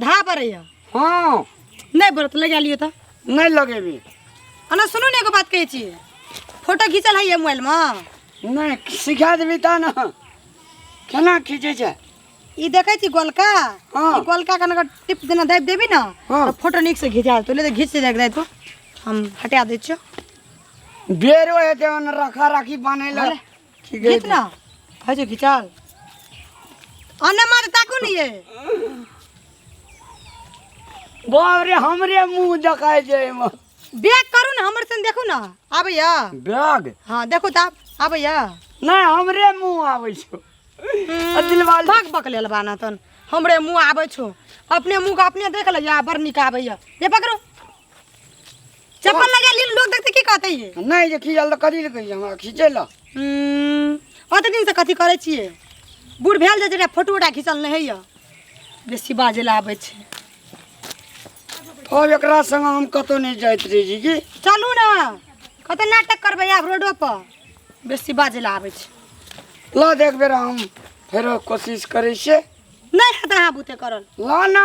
धा पड़ैया हाँ नहीं बरत लगा लियो तो नहीं लगेबी अना सुनू ने एगो बात कहै छी फोटो खींचल है मोबाइल में नहीं सिखा देबी ता ना केना खींचे छै ई देखै छी गोलका हाँ। ई गोलका कन अगर टिप देना दाबि देबी ना हाँ। तो फोटो नीक से घिचा तो ले तो घिच दे तो हम हटा दै छियो बेरो हेतै ओने रखा राखी बनै लए खींच खींच ना है जो खिंचाल अन्ना मार ताको नहीं है बाप रे हमरे मुंह देखाय जाय म बैग करू ना हमर सन देखू ना आबे या बैग हां देखू त आबे या नहीं हमरे मुंह आवे छो अदिल वाल भक भक लेल बाना तन हमरे मुंह आबे छो अपने मुंह का अपने देख ले या बड़ निक आबे या ये पकड़ो चप्पल लगा ली लोग देखते की कहते ये नहीं जे खींचल तऽ कथी लए कहियै हमरा खींचै लए हम्म, ओते दिन से कथी करे छिए बूढ़ भेल जे जेटा फोटो उटा खींचल नहीं होइए बेसी बाजे ला आबै छै अब एकरा संग हम कतौ नहीं जाइत रही जी की चलू ने कते नाटक करबै आब रोडो पर बेसी बाजे ला आबै छै ला देख बेरा हम फेरो कोशिश करै छियै नहीं हेतै अहाँ बुते करल ला ना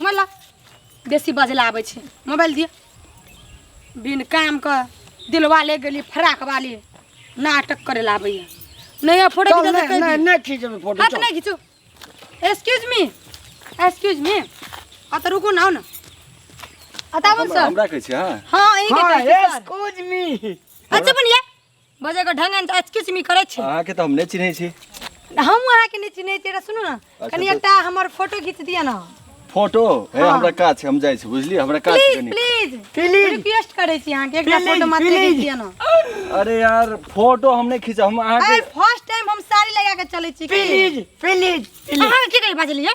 मतलब बेसी बजला आबै छै मोबाइल दिए बिन काम के दिलवा ले गेली फराक वाली नाटक करे ला आबैया नहीं फोटो चल खींचा नहीं नहीं नहीं खींचबे फोटो हाथ चल नहीं खींचो एक्सक्यूज मी एक्सक्यूज मी आ तो रुको ना आओ ना अतावन हमरा सर हमरा कहै छै हँ हाँ ई हाँ के एक्सक्यूज मी अच्छा बनिए बजे के ढंग त अचकिच मी करे छी अहाँ के त हम नै चिन्है छी हम अहाँ के नै चिन्है छी सुनु न अच्छा, कनी तो- एकटा हमर फोटो खींच दिया न फोटो हे हाँ। हमरा काज छै हम जाइ छी बुझली हमरा काज छै प्लीज कनी प्लीज प्लीज रिक्वेस्ट करे छी अहाँ के एकटा Please, फोटो मात्र please. खींच दिया न अरे यार फोटो हम नै खींचा हम अहाँ अरे के फर्स्ट टाइम हम साड़ी लगा के चले छी की प्लीज प्लीज अहाँ के की बाजलिए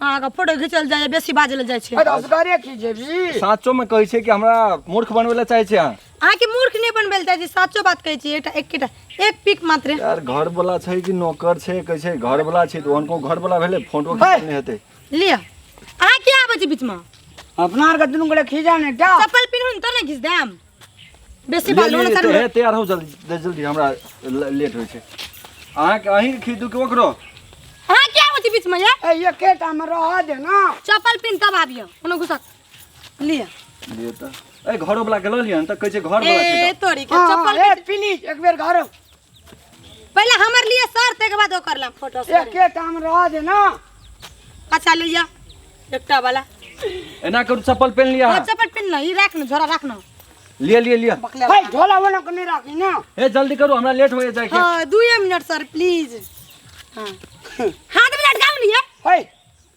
अहाँके फोटो खींचल जाइए बेसी बाजल जाइ छै अरे असगरे की जेबी साचो में कहै छै कि हमरा मूर्ख बनबै लए चाहै छै अहाँ अहाँके मूर्ख नहि बनबै लए चाहै छी साचो बात कहै छी एकटा एकेटा एक पिक मात्र यार घर वाला छै कि नौकर छै कहै छै घर वाला छै तऽ उनको घर वाला भेलै फोटो खींचल नहि हेतै लिअ अहाँ किया आबै छी बीचमे अपना आरके दुनू गोटे खींचा ने टा चप्पल पिन्हू ने तब ने घिस देम बेसी बालू ने करबै तैयार हो जल्दी जल्दी हमरा लेट होइ छै अहाँ अहीं खीदू के ओकरो अहाँ क्या होती बीच में ये ए ये के टाइम रह दे ना चप्पल पिन तब आबियो कोनो घुसा लिए लिए त ए घरो वाला के ल लियन त कहै छै घर वाला छै ए तोरी के चप्पल ए प्लीज एक बेर घर पहले हमर लिए सर ते के बाद ओकर ला फोटो सर एके काम रह दे ना अच्छा ले जा एकटा वाला एना करू चप्पल पहन लिया और चपट पिन ला ई राख न झोरा राख न लिया लिया लिया है झोला वोला को नहीं राखी ना ए जल्दी करू हमरा लेट होए जाए के हां 2 मिनट सर प्लीज हां हाथ में लटकाओ लिए है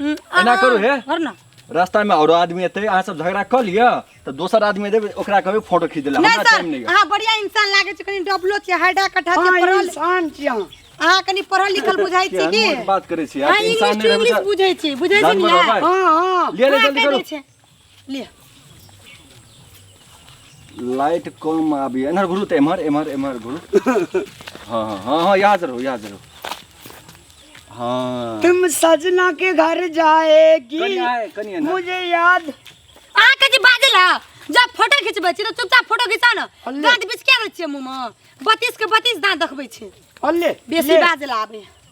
हम्म, आब एना करू हे। घर ना रास्ता में औरो आदमी एते अहाँ सब झगड़ा कऽ लिअ तऽ दोसर आदमी देबै ओकरा कहबै फोटो खींच देला नहीं हमरा सर टाइम नहीं है अहाँ बढ़िया इंसान लागे छै कनी डबलो छै हाइडा कठा छै अहाँ पढ़ल इंसान छी अहाँ अहाँ कनी पढ़ल लिखल बुझाइ छी की बात करै छी अहाँ यार इंसान इंग्लिश नहि रहबै इंग्लिश तऽ बुझै छी बुझै छी जानवर ने होबै। हँ हँ ले ले अहाँ जल्दी कहि करू दै छै। लिअ लाइट कम आबैए एम्हर घुरू तऽ एम्हर एम्हर एम्हर घुरू हँ हँ हँ हँ याद रहू याद रहू हँ तुम सजना के घर जाएगी कनिया है, कनिया ना। मुझे याद अहाँ के जे बाजल है जब फोटो खिचबै छी तऽ चुपचाप फोटो घिचा न हल्ले। दाँत बिचकिया रहै छियै मुँहमे बत्तीस के बत्तीस दाँत देखबै छै हल्ले बेसी ले। बाजल आबै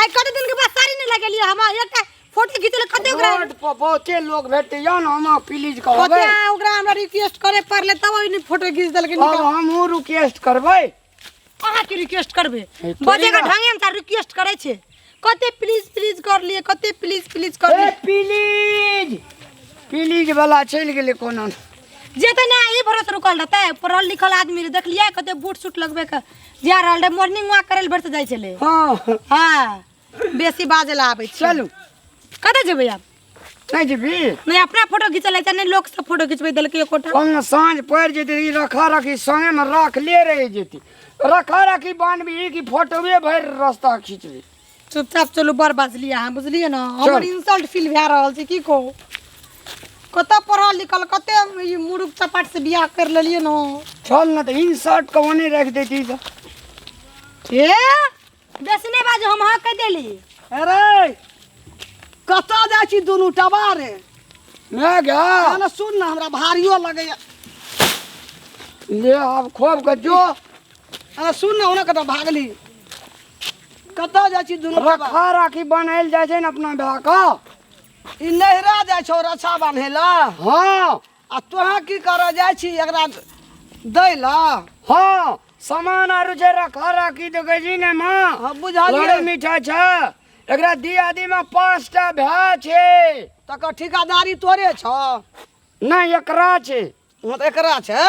आइ कते दिन के बाद साड़ी नहीं लगेलिए हम एकटा फोटो खींचले कते ओकरा रोड पर बहुते लोग भेटैया न हम प्लीज कहबै पता ओकरा हमरा रिक्वेस्ट करे पड़ले तब ओइ फोटो खींच देलके अब निकाल हमहूँ रिक्वेस्ट करबै अहाँ के रिक्वेस्ट करबे ए, तोरी बजे का ना। ढंगे से रिक्वेस्ट करे छे कते प्लीज प्लीज कर लिए कते प्लीज प्लीज कर ए लिए प्लीज प्लीज वाला चलि गेलै कोनो जेते ना ई भरोस रुकल रहते पढ़ल लिखल आदमी रे देखलिए कते बूट सूट लगबे के जा रहल रहे मॉर्निंग वॉक करे ले बढ़ते जाय छले हाँ हां बेसी बाजे ला आबै छै चलू कतऽ जेबै आब नहीं जेबी नहीं अपना फोटो खींच ले छै नहीं लोग सब फोटो खींचबै देलकै एक कोटा कौन साँझ पड़ जेतै ई रखा रखी संगे में रख ले रह जेतै रखा रखी बानबी कि फोटोवे भरि रस्ता खींचबी चुपचाप चलू बड़ बजलियै अहाँ बुझलियै ने हमर इंसल्ट फील भए रहल छै की कहू कतऽ पढ़ल लिखल कते ई मुरुख चपाट से बियाह कर लेलियै ने चल ना तो इन शर्ट को वने रख देती तो ए बेसी नहि बाजू हम अहाँ कहि देली अरे कतऽ जाइ छी दुनू टबा रे ना गा कहना सुन ने हमरा भारियो लगैया ले अब खोब के जो अरे सुन ना ओना कतऽ भागली कतऽ जाइ छी दुनू बाबा? रखा राखी बनायल जाइ छै ने अपना भए कऽ ई नहिरा जाइ छौ रक्षा बान्हे ला हँ आ तोरा की करऽ जाइ छी एकरा दै ला हँ सामान आरू छै रखा राखी देखै छी ने माँ हँ बुझलियै लड़ी मीठा छै एकरा दियादी में पाँच टा भए छै तकर ठिकादारी तोरे छौ नहि एकरा छै हँ तऽ एकरा छै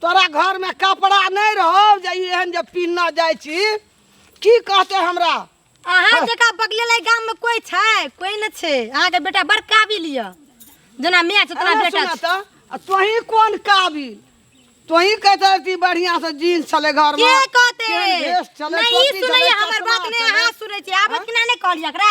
तोरा घरमे कपड़ा नहि रहौ जे ई एहन जे पीनना जाइ छी की कहते हमरा अहाँ जकाँ बगलेला गाममे कोइ छै कोइ नहि छै अहाँके बेटा बड़ काबिल यऽ जेना माय छै तेना अरे बेटा सुना छै तऽ आ तोही कोन काबिल तोही कहते रहती बढ़िया से जीन्स छले घर के में कहते केहन ड्रेस छलै, नहि ई टोपी सुनैया छलै, हमर चश्मा बात नहि छलै। अहाँ सुनै छी आबत कि नहि कहलियै एकरा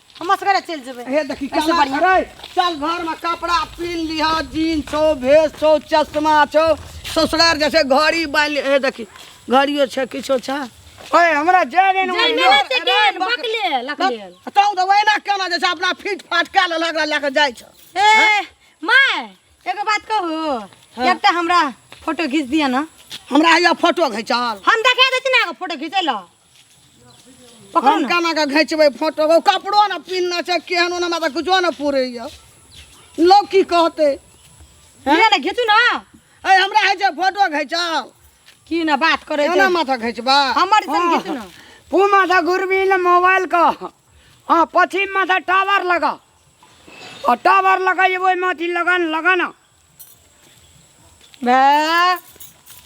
हम असगरे चलि जेबै हे देखी ऐसे केना बढ़िया। करे चल घर में कपड़ा पीन लिहा जीन छो भेस छो चश्मा छो ससुरार जैसे घड़ी बांध ले हे देखी घड़ियो छे किछो छे ओए हमरा जाय रे जाय ने रे, ते गेल, बकले, लकले। तौ तो वैना केना जैसे अपना फिट फाट के ले लगला लेके जाय छ ए माय एगो बात कहू हाँ। एकटा हमरा फोटो खींच दिया ना हमरा हिया फोटो घिचाल हम देखा दै छी ना एगो फोटो खींचै लऽ पकड़ ना केना के घिचबै फोटो ओ कपड़ो ने पिन्हने छै केहन ओना हमरा तऽ कुछो ने पुरैया लोक की कहतै लिअ ने घिचू ना ऐ हमरा होइ छै फोटो घिचाल की ना बात करे केना माथा घिचबा हमर तन घिचू ना पू माथा गुरबी ने मोबाइल का हाँ पश्चिम माथा टावर लगा और टावर लगा ये वही माथी लगा न लगा ना बे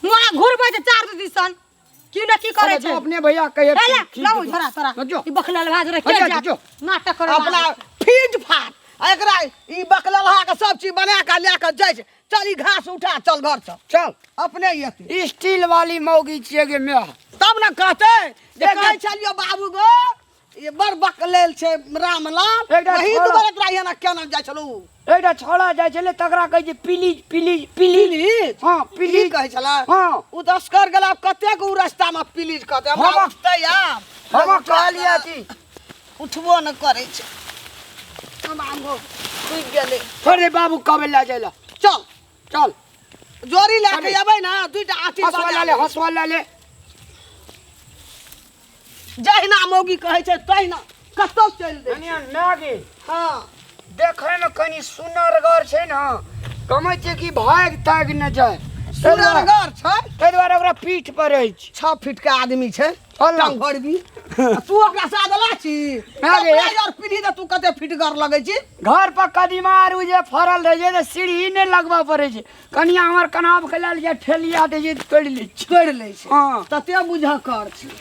मोरा घुरबै जे चार दिसन की ना की करे अरे छै जो अपने भैया कहे ए ले ठीक लाओ है। झोरा तोरा तो जो। ई बखला लगा दे अच्छा, रखे जा जो। नाटक करे अपना फीट फाट आ एकरा ई बकला लहा के सब चीज बना के ले के जाइ छै चल ई घास उठा चल घर से चल अपने ही अथी स्टील वाली मौगी छिए गे मैं तब ने कहते जे कहै छलियो बाबू गो ये बड़ बकलेल छै रामलाल एकटा वही छोड़ा। दुबारा तोरा यहाँ क्या नाम जाय छलू एकटा छोड़ा जाइ छलै तकरा कहै छै प्लीज प्लीज प्लीज प्लीज हँ प्लीज प्लीज कहै छला हँ उ दसकर गेला आब कतेक उ रास्ता में प्लीज कहते हमरा हम- उठते आब हम कहलियै कि उठबो न करै छै हम आगो डूबि गेलै अरे बाबू कबे लए जाइ लए चल चल जोरी ले के अबे ना दुईटा आठी हसवा ले हसवा ले जहिना मौगी कहै छै तहिना कतौ चलि दे कनिया नागे हां देखै में कनी सुनरगर छै ना कमै छै कि भाग ताग न जाय सुनरगर छै ताहि दुआरे ओकरा पीठ पर अछि छओ फीट के आदमी छै अल्लाह काम करबी आ तू ओकरा साथ अला छी अरे। कपड़ा यार पीढ़ी त तू कते फिटगर लगै छी घर पर कदीमा आरू जे फड़ल रहे छै तऽ सीढ़ी नहि लगबऽ पड़ै छै कनिया हमर कनाब के लेल जे ठेलिया दै छै तऽ तोड़ि लै छै तोड़ि लै छै हँ तते बुझ कर छी